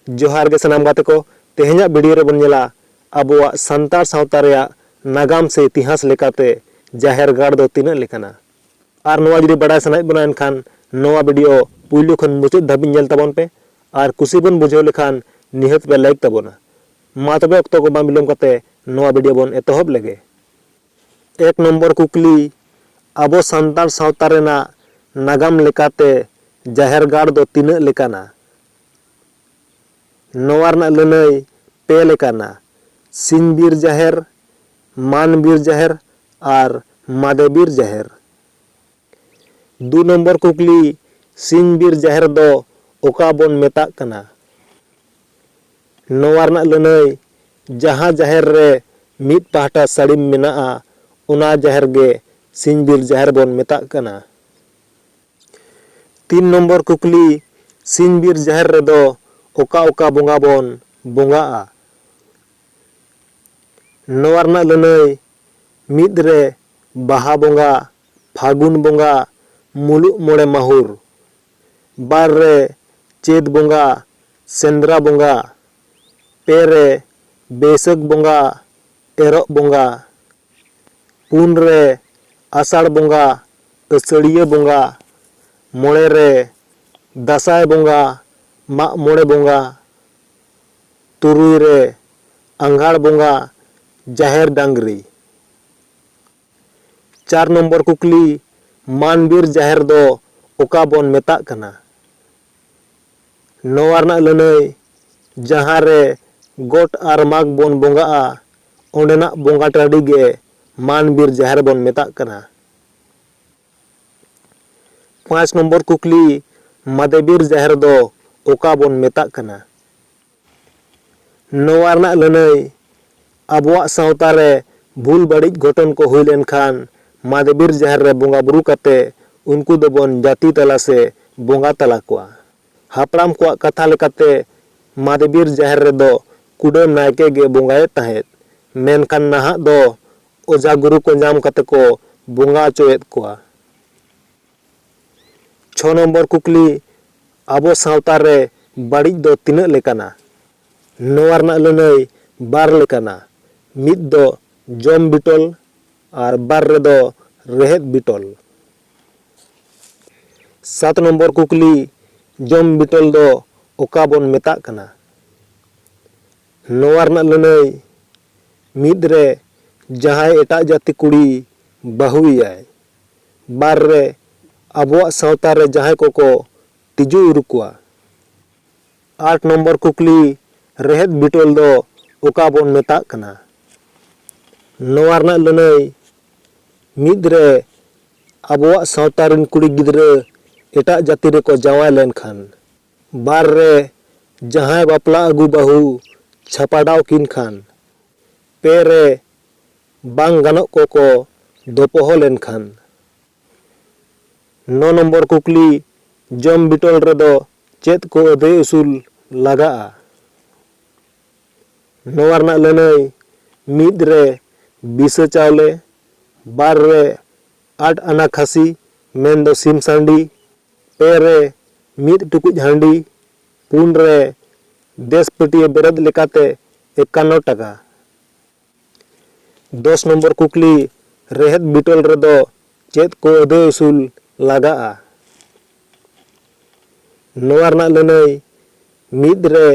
ᱡᱚᱦᱟᱨ ᱜᱮ ᱥᱟᱱᱟᱢ ᱜᱟᱛᱮ ᱠᱚ ᱛᱮᱦᱮᱧᱟᱜ ᱵᱷᱤᱰᱤᱭᱳ ᱨᱮᱵᱚᱱ ᱧᱮᱞᱟ ᱟᱵᱚᱣᱟᱜ ᱥᱟᱱᱛᱟᱲ ᱥᱟᱶᱛᱟ ᱨᱮᱭᱟᱜ ᱱᱟᱜᱟᱢ ᱥᱮ ᱤᱛᱤᱦᱟᱥ ᱞᱮᱠᱟᱛᱮ ᱡᱟᱦᱮᱨ ᱜᱟᱲ ᱫᱚ ᱛᱤᱱᱟᱹᱜ ᱞᱮᱠᱟᱱᱟ ᱟᱨ ᱱᱚᱣᱟ ᱡᱩᱫᱤ ᱵᱟᱰᱟᱭ ᱥᱟᱱᱟᱭᱮᱫ ᱵᱚᱱᱟ ᱮᱱᱠᱷᱟᱱ ᱱᱚᱣᱟ ᱵᱷᱤᱰᱤᱭᱳ ᱯᱩᱭᱞᱩ ᱠᱷᱚᱱ ᱢᱩᱪᱟᱹᱫ ᱫᱷᱟᱹᱵᱤᱡ ᱧᱮᱞ ᱛᱟᱵᱚᱱ ᱯᱮ ᱟᱨ ᱠᱩᱥᱤ ᱵᱚᱱ ᱵᱩᱡᱷᱟᱹᱣ ᱞᱮᱠᱷᱟᱱ ᱱᱤᱦᱟᱹᱛ ᱯᱮ ᱞᱟᱭᱤᱠ ᱛᱟᱵᱚᱱᱟ ᱢᱟ ᱛᱚᱵᱮ ᱚᱠᱛᱚ ᱠᱚ ᱵᱟᱝ ᱵᱤᱞᱚᱢ ᱠᱟᱛᱮ ᱱᱚᱣᱟ ᱵᱷᱤᱰᱤᱭᱳ ᱵᱚᱱ ᱮᱛᱚᱦᱚᱵ ᱞᱮᱜᱮ ᱮᱠ ᱱᱚᱢᱵᱚᱨ ᱠᱩᱠᱞᱤ, ᱟᱵᱚ ᱥᱟᱱᱛᱟᱲ ᱥᱟᱶᱛᱟ ᱨᱮᱱᱟᱜ ᱱᱟᱜᱟᱢ ᱞᱮᱠᱟᱛᱮ ᱡᱟᱦᱮᱨ ᱜᱟᱲ ᱫᱚ ᱛᱤᱱᱟᱹᱜ ᱞᱮᱠᱟᱱᱟ? ᱱᱚᱣᱟ ᱨᱮᱱᱟᱜ ᱞᱟᱹᱱᱟᱹᱭ ᱯᱮ ᱞᱮᱠᱟᱱᱟ, ᱥᱤᱧ ᱵᱤᱨ ᱡᱟᱦᱮᱨ, ᱢᱟᱱ ᱵᱤᱨ ᱡᱟᱦᱮᱨ ᱟᱨ ᱢᱟᱫᱮ ᱵᱤᱨ ᱡᱟᱦᱮᱨ᱾ ᱫᱩ ᱱᱚᱢᱵᱚᱨ ᱠᱩᱠᱞᱤ, ᱥᱤᱧ ᱵᱤᱨ ᱡᱟᱦᱮᱨ ᱫᱚ ᱚᱠᱟ ᱵᱚᱱ ᱢᱮᱛᱟᱜ ᱠᱟᱱᱟ? ᱱᱚᱣᱟ ᱨᱮᱱᱟᱜ ᱞᱟᱹᱱᱟᱹᱭ, ᱡᱟᱦᱟᱸ ᱡᱟᱦᱮᱨ ᱨᱮ ᱢᱤᱫ ᱯᱟᱦᱴᱟ ᱥᱟᱹᱲᱤᱢ ᱢᱮᱱᱟᱜᱼᱟ, ᱚᱱᱟ ᱡᱟᱦᱮᱨ ᱜᱮ ᱥᱤᱧ ᱵᱤᱨ ᱡᱟᱦᱮᱨ ᱵᱚᱱ ᱢᱮᱛᱟᱜ ᱠᱟᱱᱟ᱾ ᱛᱤᱱ ᱱᱚᱢᱵᱚᱨ ᱠᱩᱠᱞᱤ, ᱥᱤᱧ ᱵᱤᱨ ᱡᱟᱦᱮᱨ ᱨᱮᱫᱚ ᱚᱠᱟ ᱚᱠᱟ ᱵᱚᱸᱜᱟ ᱵᱚᱱ ᱵᱚᱸᱜᱟᱜᱼᱟ? ᱱᱚᱣᱟ ᱨᱮᱱᱟᱜ ᱞᱟᱹᱱᱟᱹᱭ, ᱢᱤᱫ ᱨᱮ ᱵᱟᱦᱟ ᱵᱚᱸᱜᱟ ᱯᱷᱟᱹᱜᱩᱱ ᱵᱚᱸᱜᱟ ᱢᱩᱞᱩᱜ ᱢᱚᱬᱮ ᱢᱟᱹᱦᱩᱨ᱾ ᱵᱟᱨ ᱨᱮ ᱪᱟᱹᱛ ᱵᱚᱸᱜᱟ ᱥᱮᱸᱫᱽᱨᱟ ᱵᱚᱸᱜᱟ᱾ ᱯᱮ ᱨᱮ ᱵᱟᱹᱭᱥᱟᱹᱠᱷ ᱵᱚᱸᱜᱟ ᱮᱨᱚᱜ ᱵᱚᱸᱜᱟ᱾ ᱯᱩᱱ ᱨᱮ ᱟᱥᱟᱲ ᱵᱚᱸᱜᱟ ᱟᱹᱥᱟᱹᱲᱤᱭᱟᱹ ᱵᱚᱸᱜᱟ᱾ ᱢᱚᱬᱮ ᱨᱮ ᱫᱟᱥᱟᱸᱭ ᱵᱚᱸᱜᱟ ᱢᱟᱜ ᱢᱚᱬᱮ ᱵᱚᱸᱜᱟ᱾ ᱛᱩᱨᱩᱭ ᱨᱮ ᱟᱸᱜᱷᱟᱲ ᱵᱚᱸᱜᱟ ᱡᱟᱦᱮᱨ ᱰᱟᱝᱜᱽᱨᱤ᱾ ᱪᱟᱨ ᱱᱚᱢᱵᱚᱨ ᱠᱩᱠᱞᱤ, ᱢᱟᱱ ᱵᱤᱨ ᱡᱟᱦᱮᱨ ᱫᱚ ᱚᱠᱟ ᱵᱚᱱ ᱢᱮᱛᱟᱜ ᱠᱟᱱᱟ? ᱱᱚᱣᱟ ᱨᱮᱱᱟᱜ ᱞᱟᱹᱱᱟᱹᱭ, ᱡᱟᱦᱟᱸ ᱨᱮ ᱜᱚᱴ ᱟᱨ ᱢᱟᱜᱽ ᱵᱚᱱ ᱵᱚᱸᱜᱟᱜᱼᱟ, ᱚᱸᱰᱮᱱᱟᱜ ᱵᱚᱸᱜᱟ ᱴᱟᱺᱰᱤ ᱜᱮ ᱢᱟᱱ ᱵᱤᱨ ᱡᱟᱦᱮᱨ ᱵᱚᱱ ᱢᱮᱛᱟᱜ ᱠᱟᱱᱟ᱾ ᱯᱟᱸᱪ ᱱᱚᱢᱵᱚᱨ ᱠᱩᱠᱞᱤ, ᱢᱟᱫᱮ ᱵᱤᱨ ᱡᱟᱦᱮᱨ ᱫᱚ ᱚᱠᱟ ᱵᱚᱱ ᱢᱮᱛᱟᱜ ᱠᱟᱱᱟ? ᱱᱚᱣᱟ ᱨᱮᱱᱟᱜ ᱞᱟᱹᱱᱟᱹᱭ, ᱟᱵᱚᱣᱟᱜ ᱥᱟᱶᱛᱟ ᱨᱮ ᱵᱷᱩᱞ ᱵᱟᱹᱲᱤᱡ ᱜᱷᱚᱴᱚᱱ ᱠᱚ ᱦᱩᱭ ᱞᱮᱱ ᱠᱷᱟᱱ ᱢᱟᱫᱮ ᱵᱤᱨ ᱡᱟᱦᱮᱨ ᱨᱮ ᱵᱚᱸᱜᱟ ᱵᱩᱨᱩ ᱠᱟᱛᱮ ᱩᱱᱠᱩ ᱫᱚ ᱵᱚᱱ ᱡᱟᱹᱛᱤ ᱛᱟᱞᱟ ᱥᱮ ᱵᱚᱸᱜᱟ ᱛᱟᱞᱟ ᱠᱚᱣᱟ᱾ ᱦᱟᱯᱲᱟᱢ ᱠᱚᱣᱟᱜ ᱠᱟᱛᱷᱟ ᱞᱮᱠᱟᱛᱮ ᱢᱟᱫᱮ ᱵᱤᱨ ᱡᱟᱦᱮᱨ ᱨᱮ ᱫᱚ ᱠᱩᱰᱟᱹᱢ ᱱᱟᱭᱠᱮ ᱜᱮ ᱵᱚᱸᱜᱟᱭᱮᱫ ᱛᱟᱦᱮᱸᱫ, ᱢᱮᱱᱠᱷᱟᱱ ᱱᱟᱦᱟᱜ ᱫᱚ ᱚᱡᱷᱟ ᱜᱩᱨᱩ ᱠᱚ ᱧᱟᱢ ᱠᱟᱛᱮ ᱠᱚ ᱵᱚᱸᱜᱟ ᱚᱪᱚᱭᱮᱫ ᱠᱚᱣᱟ᱾ ᱪᱷᱚ ᱱᱚᱢᱵᱚᱨ ᱠᱩᱠᱞᱤ ᱟᱵᱚ ᱥᱟᱶᱛᱟ ᱨᱮ ᱵᱟᱹᱲᱤᱡ ᱫᱚ ᱛᱤᱱᱟᱹᱜ ᱞᱮᱠᱟᱱᱟ? ᱱᱚᱣᱟ ᱨᱮᱱᱟᱜ ᱞᱟᱹᱱᱟᱹᱭ ᱵᱟᱨ ᱞᱮᱠᱟᱱᱟ, ᱢᱤᱫ ᱫᱚ ᱡᱚᱢ ᱵᱤᱴᱚᱞ ᱟᱨ ᱵᱟᱨ ᱨᱮᱫᱚ ᱨᱮᱦᱮᱫ ᱵᱤᱴᱚᱞ᱾ ᱥᱟᱛ ᱱᱚᱢᱵᱚᱨ ᱠᱩᱠᱞᱤ ᱡᱚᱢ ᱵᱤᱴᱚᱞ ᱫᱚ ᱚᱠᱟ ᱵᱚᱱ ᱢᱮᱛᱟᱜ ᱠᱟᱱᱟ? ᱱᱚᱣᱟ ᱨᱮᱱᱟᱜ ᱞᱟᱹᱱᱟᱹᱭ ᱢᱤᱫ ᱨᱮ ᱡᱟᱦᱟᱸᱭ ᱮᱴᱟᱜ ᱡᱟᱹᱛᱤ ᱠᱩᱲᱤ ᱵᱟᱹᱦᱩ ᱮᱭᱟᱭ᱾ ᱵᱟᱨ ᱨᱮ ᱟᱵᱚᱣᱟᱜ ᱥᱟᱶᱛᱟ ᱨᱮ ᱡᱟᱦᱟᱸᱭ ᱠᱚᱠᱚ ᱛᱤᱡᱩ ᱤᱨᱩ ᱠᱚᱣᱟ᱾ ᱟᱴ ᱱᱚᱢᱵᱚᱨ ᱠᱩᱠᱞᱤ ᱨᱮᱦᱮᱫ ᱵᱤᱴᱚᱞ ᱫᱚ ᱚᱠᱟ ᱵᱚᱱ ᱢᱮᱛᱟᱜ ᱠᱟᱱᱟ? ᱱᱚᱣᱟ ᱨᱮᱱᱟᱜ ᱞᱟᱹᱱᱟᱹᱭ ᱢᱤᱫ ᱨᱮ ᱟᱵᱚᱣᱟᱜ ᱥᱟᱶᱛᱟ ᱨᱤᱱ ᱠᱩᱲᱤ ᱜᱤᱫᱽᱨᱟᱹ ᱮᱴᱟᱜ ᱡᱟᱹᱛᱤ ᱨᱮᱠᱚ ᱡᱟᱶᱟᱭ ᱞᱮᱱ ᱠᱷᱟᱱ᱾ ᱵᱟᱨ ᱨᱮ ᱡᱟᱦᱟᱸᱭ ᱵᱟᱯᱞᱟ ᱟᱹᱜᱩ ᱵᱟᱹᱦᱩ ᱪᱷᱟᱯᱟᱰᱟᱣ ᱠᱤᱱ ᱠᱷᱟᱱ ᱯᱮ ᱨᱮ ᱵᱟᱝ ᱜᱟᱱᱚᱜ ᱠᱚ ᱠᱚ ᱫᱚᱯᱚᱦᱚ ᱞᱮᱱᱠᱷᱟᱱ᱾ ᱱᱚ ᱱᱚᱢᱵᱚᱨ ᱠᱩᱠᱞᱤ, ᱡᱚᱢ ᱵᱤᱴᱚᱞ ᱨᱮ ᱫᱚ ᱪᱮᱫ ᱠᱚ ᱟᱹᱫᱟᱹᱭ ᱩᱥᱩᱞ ᱞᱟᱜᱟᱜᱼᱟ? ᱱᱚᱣᱟ ᱨᱮᱱᱟᱜ ᱞᱟᱹᱱᱟᱹᱭ, ᱢᱤᱫ ᱨᱮ ᱵᱤᱥᱟᱹ ᱪᱟᱣᱞᱮ, ᱵᱟᱨ ᱨᱮ ᱟᱴ ᱟᱱᱟ ᱠᱷᱟᱹᱥᱤ ᱢᱮᱱ ᱫᱚ ᱥᱤᱢ ᱥᱟᱺᱰᱤ, ᱯᱮ ᱨᱮ ᱢᱤᱫ ᱴᱩᱠᱩᱡ ᱦᱟᱺᱰᱤ, ᱯᱩᱱ ᱨᱮ ᱫᱮᱥ ᱯᱟᱹᱴᱤᱭᱟᱹ ᱵᱮᱨᱮᱫ ᱞᱮᱠᱟᱛᱮ ᱮᱠᱟᱱᱱᱚ ᱴᱟᱠᱟ᱾ ᱫᱚᱥ ᱱᱚᱢᱵᱚᱨ ᱠᱩᱠᱞᱤ ᱨᱮᱦᱮᱫ ᱵᱤᱴᱚᱞ ᱨᱮᱫᱚ ᱪᱮᱫ ᱠᱚ ᱟᱹᱫᱟᱹᱭ ᱩᱥᱩᱞ ᱞᱟᱜᱟᱜᱼᱟ? ᱱᱚᱣᱟ ᱨᱮᱱᱟᱜ ᱞᱟᱹᱱᱟᱹᱭ ᱢᱤᱫ ᱨᱮ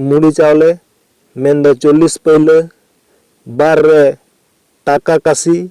ᱢᱩᱲᱤ ᱪᱟᱣᱞᱮ ᱢᱮᱱᱫᱚ ᱪᱚᱞᱞᱤᱥ ᱯᱟᱹᱭᱞᱟᱹ, ᱵᱟᱨ ᱨᱮ ᱴᱟᱠᱟ ᱠᱟᱹᱥᱤ,